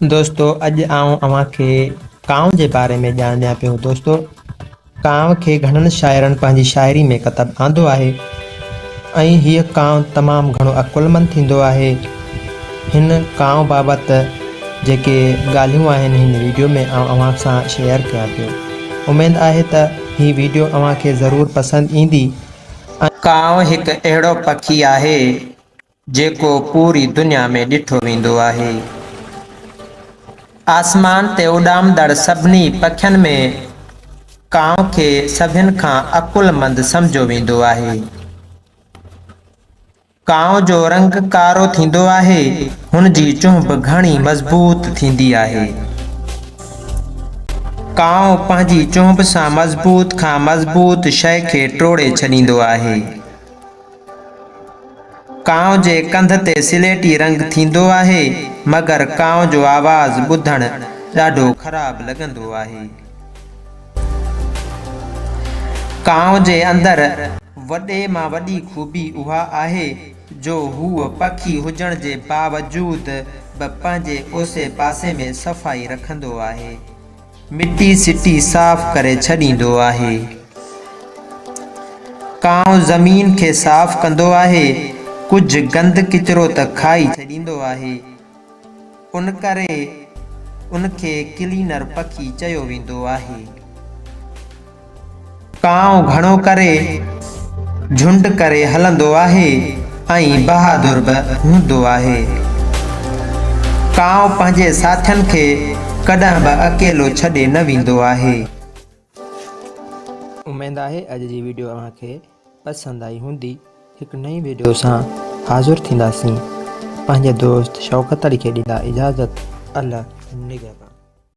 دوستو اڄ آئون اوهان کي ڪانء جي باري ۾ ڄاڻ ڏيان پيو دوستو ڪانء کي گهڻن شاعرن پنهنجي شاعري ۾ ڪتب آندو آهي ۽ هيء ڪانء تمام گهڻو عقلمند ٿيندو آهي هن ڪانء بابت جيڪي ڳالهيون آهن هن ويڊيو ۾ آئون اوهان سان شيئر ڪيان پيو اميد آهي ته هي ويڊيو اوهان کي ضرور پسند ايندي ڪانء هڪ اهڙو پکي آهي جيڪو پوري دنيا ۾ ڏٺو ويندو آهي. آسمان تي اڏامندڙ سڀني پکين ۾ ڪانء کي سڀين کان عقلمند سمجهيو ويندو آهي. ڪانء جو رنگ ڪارو ٿيندو آهي، هن جي چونهه گهڻي مضبوط ٿيندي آهي. ڪانء پنهنجي چونهه سان مضبوط کان مضبوط شيء کي ٽوڙي ڇڏيندو آهي. ڪانء جي ڪنڌ تي سليٽي رنگ ٿيندو آهي، مگر ڪانء جو آواز ٻڌڻ ڏاڍو خراب لڳندو آهي. ڪانء جي اندر وڏي مان وڏي خوبي اها آهي جو هوء پکي هجڻ جي باوجود به پنهنجي اوسي پاسي ۾ صفائي رکندو آهي. مٽي سٽي صاف ڪري ڇڏيندو آهي. ڪانء زمين کي صاف ڪندو آهي، ڪجهه گند ڪچرو ته کائي ڇڏيندو آهي. ان ڪري ان کي ڪلينر پکي چيو ويندو آهي. ڪانء گهڻو ڪري جهنڊ ڪري هلندو آهي ۽ بهادر به هوندو آهي. ڪانء پنهنجي ساٿين کي ڪڏهن به اڪيلو ڇڏي نه ويندو آهي. اميد آهي اڄ جي ويڊيو اوهان کي پسند آئي هوندي. هڪ نئين ويڊيو سان حاضر ٿينداسين. پنهنجي دوست شوڪت علي کي ڏيندا اجازت. الله نگهبان.